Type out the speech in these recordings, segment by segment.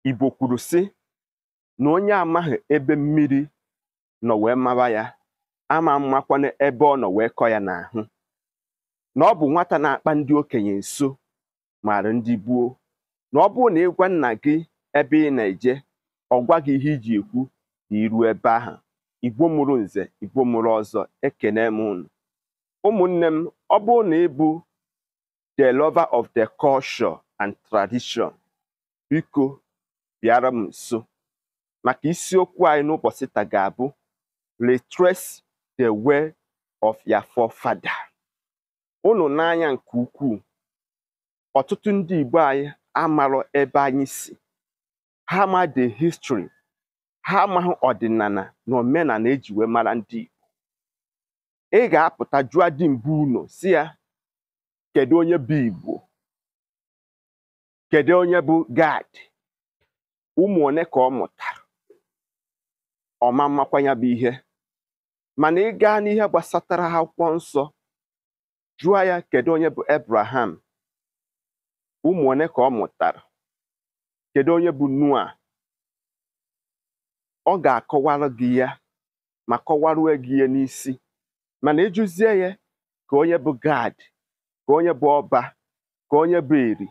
Igbo kwuru sị na onye amaghị ebe mmiri nọ wee maba ya ama mmakwanụ ebe ọ nọ wee kọ ya n'ahụ na ọ bụ nwata na-akpa ndị okenye nso maara ndị gboo na ọ bụrụ na ị gwa nna gị ebe ị na-eje ọ gwa gị ihe iji ekwu na i ruo ebe ahụ igbo mụrụ nze igbo mụrụ ọzọ ekene m unu ụmụnne m ọ bụrụ na ị bụ the lover of the culture and tradition biko bịara m nso maka isiokwu anyị n'ụbọchị taa ga-abụ retrace the way of your forefather unu nee anya nke ukwuu ọtụtụ ndị Igbo anyị amarọ ebe anyị si ha ama the history ha amaghị ọdịnala na omenala e ji wee mara ndị Igbo ị ga-apụta jụọ di bi ụnọ sị ya kedu onye bụ igbo kedu onye bụ Gad ụmụ one ka ọ mụtara ọ ma mmakwa ya bụ ihe mana ị gaa n'ihe gbasatara akwụkwọ nsọ jụọ ya kedu onye bụ Abraham ụmụ one ka ọ mụtara kedu onye bụ Noah ọ ga-akọwara gị ya ma kọwarue gị ya n'isi mana ị jụzie ya ka onye bụ Gad ka onye bụ Ọba ka onye bụ Eri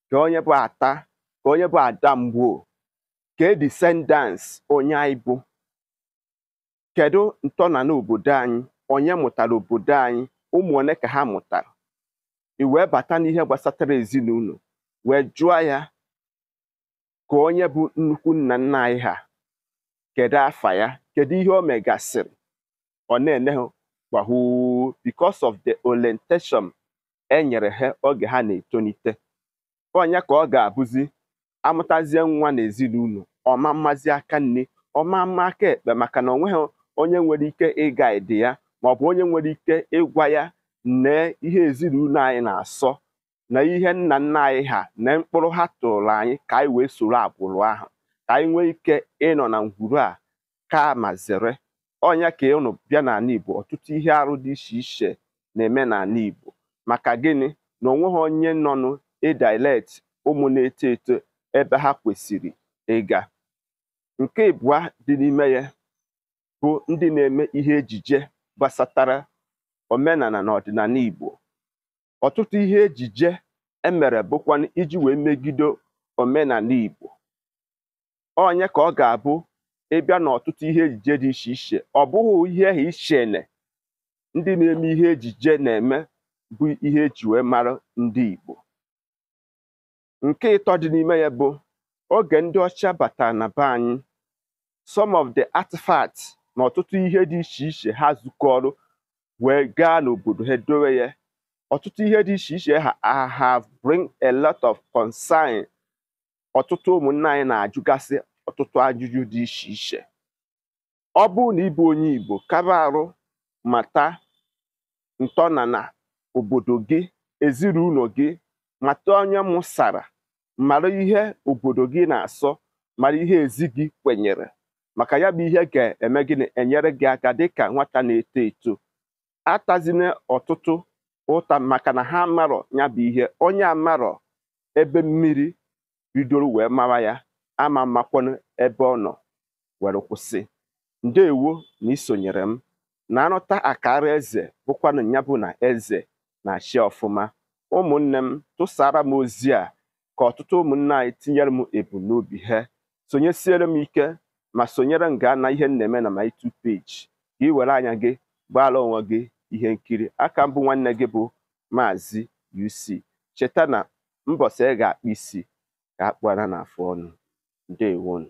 ka onye bụ Ata ka onye bụ Adamgbo kee descendants onye anyị bụ kedu ntọnala obodo anyị onye mụtara obodo anyị ụmụ one ka ha mụtara i wee bata n'ihe gbasatara ezinụlọ wee jụọ ya ka onye bụ nnukwu nna nna anyị ha kedu afa ya kedu ihe o megasịrị ọ na-ene ha gbahu because of the orientation e nyere ha oge ha na-etonite ọ nya ka ọ ga-abụzi a mụtazie nwa n'ezinụlọ ọ ma mmazi aka nni ọ ma mma aka ekpe maka na onweghị onye nwere ike ịguide ya maọbụ onye nwere ike ịgwa ya nee ihe ezinụlọ anyị na-asọ na ihe nna nna anyị ha na ụkpụrụ ha tụụrụ anyị ka anyị wee soro agbụrụ ahụ ka anyị nwee ike ịnọ na ngwuru a kaa ma zere ọ nya ka unu bịa n'ala Igbo ọtụtụ ihe arụ dị iche iche na-eme n'ala Igbo maka gịnị na onweghị onye nọnụ adirect ụmụ na-eto eto ebe ha kwesịrị ịga nke ibụa dị n'ime ya bụ ndị na-eme ihe ejije gbasatara omenala na ọdịnala Igbo ọtụtụ ihe ejije e mere bụkwanụ iji wee megide omenala Igbo ọ nya ka ọ ga-abụ ị bịa n'ọtụtụ ihe ejije dị iche iche ọ bụghị ihe ahụ i che na ndị na-eme ihe ejije na-eme bụ ihe e ji wee mara ndị Igbo nke ịtọ dị n'ime ya bụ oge ndị ọcha batara na be anyị some of the artifacts na ọtụtụ ihe dị iche iche ha zukọrọ wee gaa n'obodo ha dowe ya ọtụtụ ihe dị iche iche ha ha- have bring a lot of concern ọtụtụ ụmụnna anyị na-ajụgasị ọtụtụ ajụjụ dị iche iche ọ bụrụ na ịbụ onye Igbo kaba arụ mata ntọnana obodo gị ezinụlọ gị mata onye mụsara mara ihe obodo gị na-asọ mara ihe ezi gị kwenyere maka ya bụ ihe ga-eme gịnị enyere gị aka dịka nwata na-eto eto atazina ọtụtụ ụta maka na ha amarọ ya bụ ihe onye amarọ ebe mmiri bidoro wee mara ya ama makwanụ ebe ọ nọ were kwụsị ndewo na isonyere m na anụta akaara eze bụkwanụ ya bụ na eze na-achị ọfụma ụmụnne m tụsaara m ozi a ka ọtụtụ ụmụnne anyị tinyere m ebumnobi ha sonyesiere m ike ma sonyere m gaa na ihe m na-eme na my YouTube page ka ị were anya gị gbaara onwe gị ihe nkiri aka m bụ nwanne gị bụ maazị UC cheta na mbọsị ị ga-akpụ isi ka akpụara na afụ ọnụ ndewonu